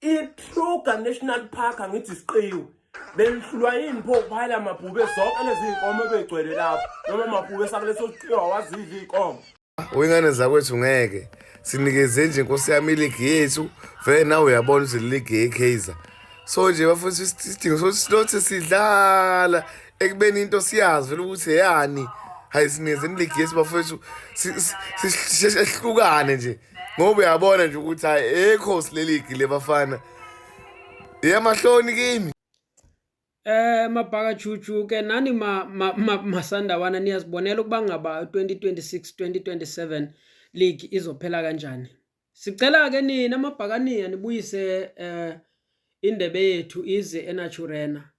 ikruger national park angithi siqiwe belihlulwa yini pho kuphayela amabhube zonke lezi iy'nkomo ebeyigcwele lapho noma amabhube sakuleso siqiwa wazidla iy'nkomo oyingane zakwethu ngeke sinikeze nje nkosi yami iligi yethu vele nawe uyabona ukuthi liligi yekaizer so nje bafundisa isidingo sokuthi silothi sidlala ekubeni into siyazi vele ukuthi eyani hayi sinezeni ligi yethu bafowethu sihlukane nje ngoba uyabona nje ukuthi hayi ekhosi leligi lebafana yemahloni kimi Eh mabhaka chuchu ke nani ma, ma, ma masandawana niyazibonela ukuba ngaba 2026 2027 league izophela kanjani. Sicela ke nina amabhakaniya nibuyise eh indebe yethu ize eNaturena.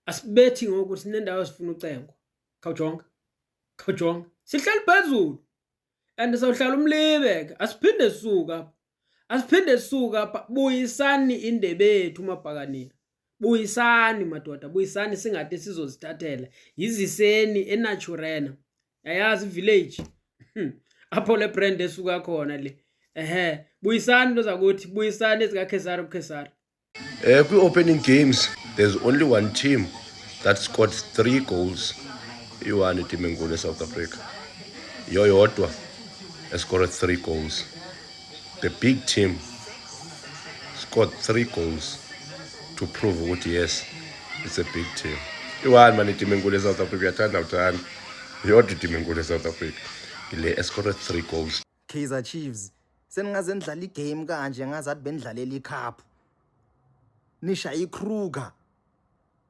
Asibethi ngoku sinendawo esifuna ucengo. Khawjonga. Khawjonga. Sihleli phezulu. and sawuhlala umlibeke asiphinde suka asiphinde suka buyisani indebe yethu mabhakanini buyisani madoda buyisani singade sizozithathela yiziseni enaturena yayazi village hmm. apho le brand esuka khona le ehe buyisani into zakuthi buyisani ezikakhesari ukhesari Eh kwi opening games there's only one team that scored 3 goals. Iwani team enkulu eSouth Africa. Yoyodwa escored 3 goals. The big team scored 3 goals to prove ukuthi yes it's a big team. Iwani mani team enkulu eSouth Africa yathanda uthanda. Yodwa team enkulu eSouth Africa. Ile escored 3 goals. Kaizer Chiefs seningaze nidlala igame kanje ngazathi benidlalela icup nisha ikruger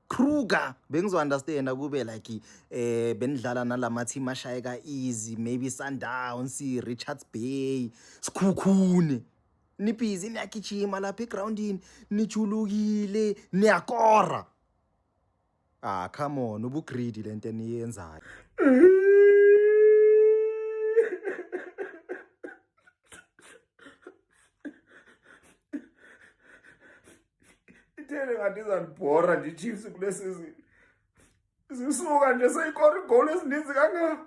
Kruger bengizounderstand kube like eh benidlala nalama team ashayeka easy maybe Sundowns Richards Bay Sikhukhune nibhizi niyagijima lapha egroundini nijulukile niyakora Ah come on ubu greedy lento eniyenzayo. Ithele ngathi izanibhora nje Chiefs kule season. Zisuka nje seyikora igoli ezininzi kangaka.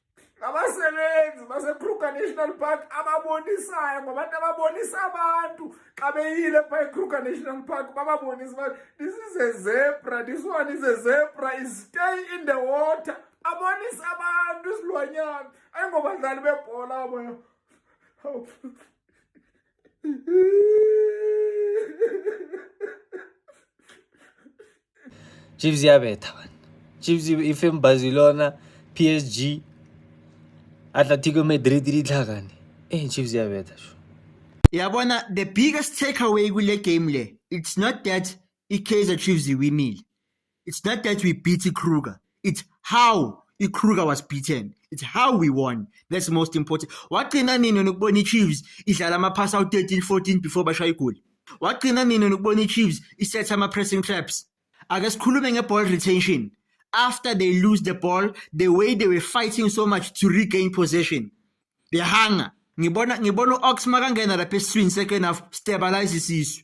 ngabasebenzi basekruger national park ababonisayo ngabantu ababonisa abantu xa beyile pha ekruger national park bababonisa uba this is a zebra this one is a zebra is stay in the water abonisa abantu isilwanyana ayingobadlali bebhola bona chiefs yabetha bani chiefs ifembazi lona psg atletico madrid litlhakane eh chiefs yabetha sho yabona the biggest takeaway kule game le it's not that i-Kaizer Chiefs iwinile. It's not that we beat i-Kruger. It's how i-Kruger was beaten. It's how we won. That's most important. Wagcina nini nokubona i-Chiefs idlala ama-pass out 13 14 before bashaya igoli? Wagcina nini nokubona i-Chiefs isetha ama-pressing traps? Ake sikhulume nge-ball retention. After they lose the ball, the way they were fighting so much to regain possession. They hanga. Ngibona ngibona u-Ox makangena lapha esiswini second half stabilize isisu.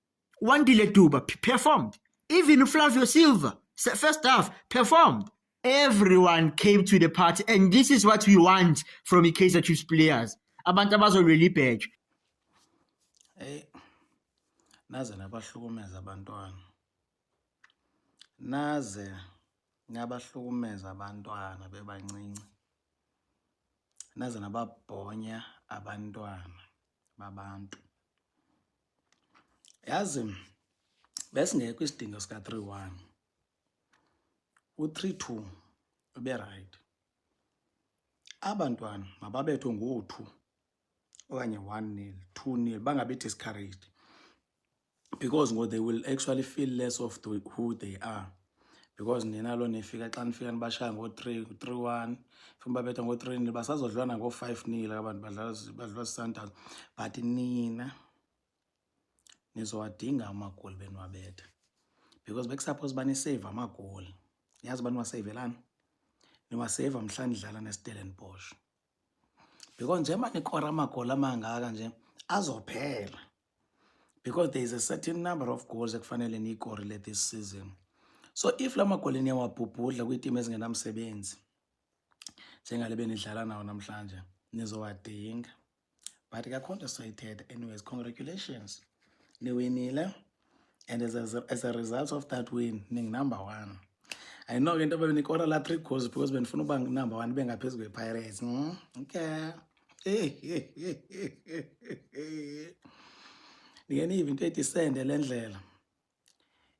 Wandile Duba performed. Even Flavio Silva, first half, performed. Everyone came to the party, and this is what we want from the Kaiser Chiefs players. Abantu abazolwela ibheje. Hey, naze nabahlukumeza abantwana. Naze nabahlukumeza abantwana bebancinci. Naze nababhonya abantwana babantu. yazi besingekho isidingo sika 31 u 32 ube right abantwana mababethwe ngo-two okanye one nil two nil bangabi discouraged because ngo they will actually feel less of the, who they are because nina lo nifika xa nifika nibashaya ngo-three three one funa babetha ngo-three nil basazodlwana ngo-five nil abantu badlala sisundowns but nina nizowadinga amagoli beniwabetha because bekusuppose banisave amagoli niyazi uba niwaseyivelani niwaseyiva mhla nidlala nestellenbosch because njengoba nikora amagoli amangaka nje azophela because there is a certain number of goals ekufanele niyikorile this season so if la magoli niyawabhubhudla kwiitimu ezingenamsebenzi njengale benidlala nawo namhlanje nizowadinga but kakhonto soyithetha anyways congratulations niwinile and as a, as a result of that win ningunumber one i know ke into bebenikora la three goals because benifuna uba number one bengaphezu kwepirates mm? okay ndike niyive into ethi isende le ndlela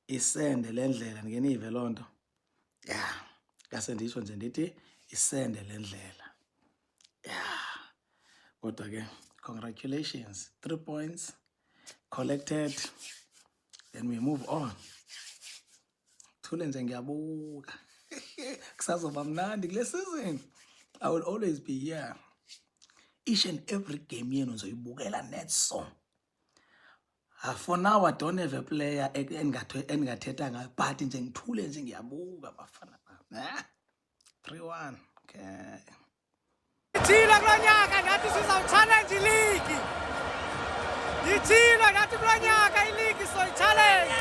isende le ndlela ndike niyive loo nto ya ngase ndisho nje ndithi isende le ndlela ya kodwa ke congratulations three points collected then we move on thule nje ngiyabuka kusazoba mnandi kule season i will always be here each and every game yenu ngizoyibukela net song Ah, for now I don't have a player engingathetha ngayo but nje ngithule nje ngiyabuka bafana bami 3-1 okay Ithile kulo nyaka nathi sizawuchallenge iligi. Ithile nathi kulo nyaka iligi soyichallenge.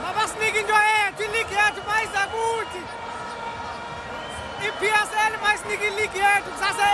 Mabasinike into yethu iligi yethu bayiza kuthi. I-PSL mayisinike iligi yethu kusase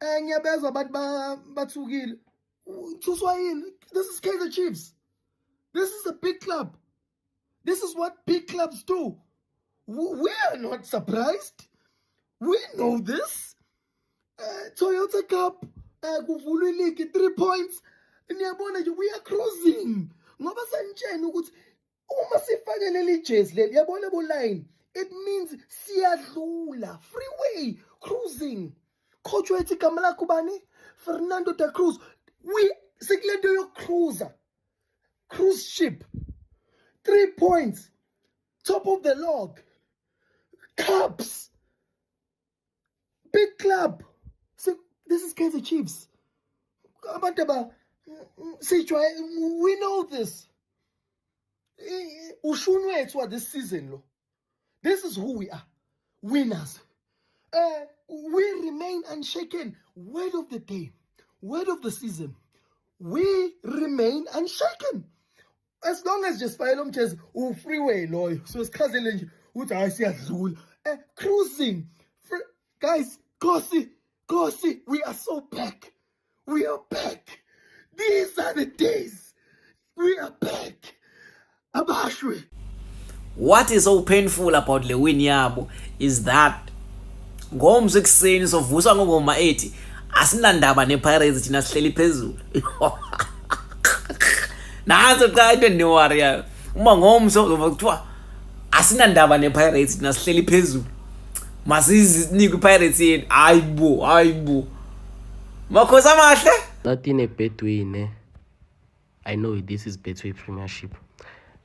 eh ngiyabezwa abantu bathukile uthuswa yini this is Kaizer Chiefs this is a big club this is what big clubs do we are not surprised we know this uh, Toyota Cup eh kuvulwe league 3 points niyabona nje we are cruising ngoba senitshena ukuthi uma sifake leli jezi leli yabona kuline it means siyadlula freeway cruising coach wethu igama lakho bani fernando da cruz we sikule nto yokucruiser cruise ship three points top of the log cups big club so this is Kaizer Chiefs abantu aba sijwaye we know this ushuni wethu wa this season lo this is who we are winners uh, we remain unshaken word of the day word of the season we remain unshaken as long as nje sifayele umjezi u-freeway loyo so sichazele nje ukuthi hhayi siyadlula um cruising guys kosi kosi we are so back we are back these are the days we are back abashwe what is so painful about le win yabo is that ngomso ekuseni sovuswa ngongoma ethi asinandaba nepirates thina sihleli phezulu nanso qha into endiwarriyayo uma ngomso uzova kuthiwa asinandaba nepirates thina sihleli phezulu masizinike ipirates yenu hayi bo hayi bo makhosi amahle nathi nebetway ne i know this is betway premiership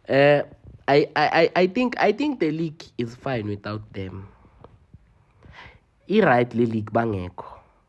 uh, I, I, I think i think the league is fine without them i-right le league bangekho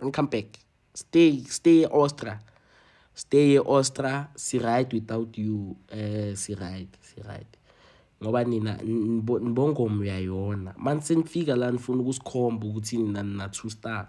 don't come back stay stay ostra stay ostra si right without you eh si right si right ngoba nina nibongomo uyayona manje senifika la nifuna ukusikhomba ukuthi nina nina two star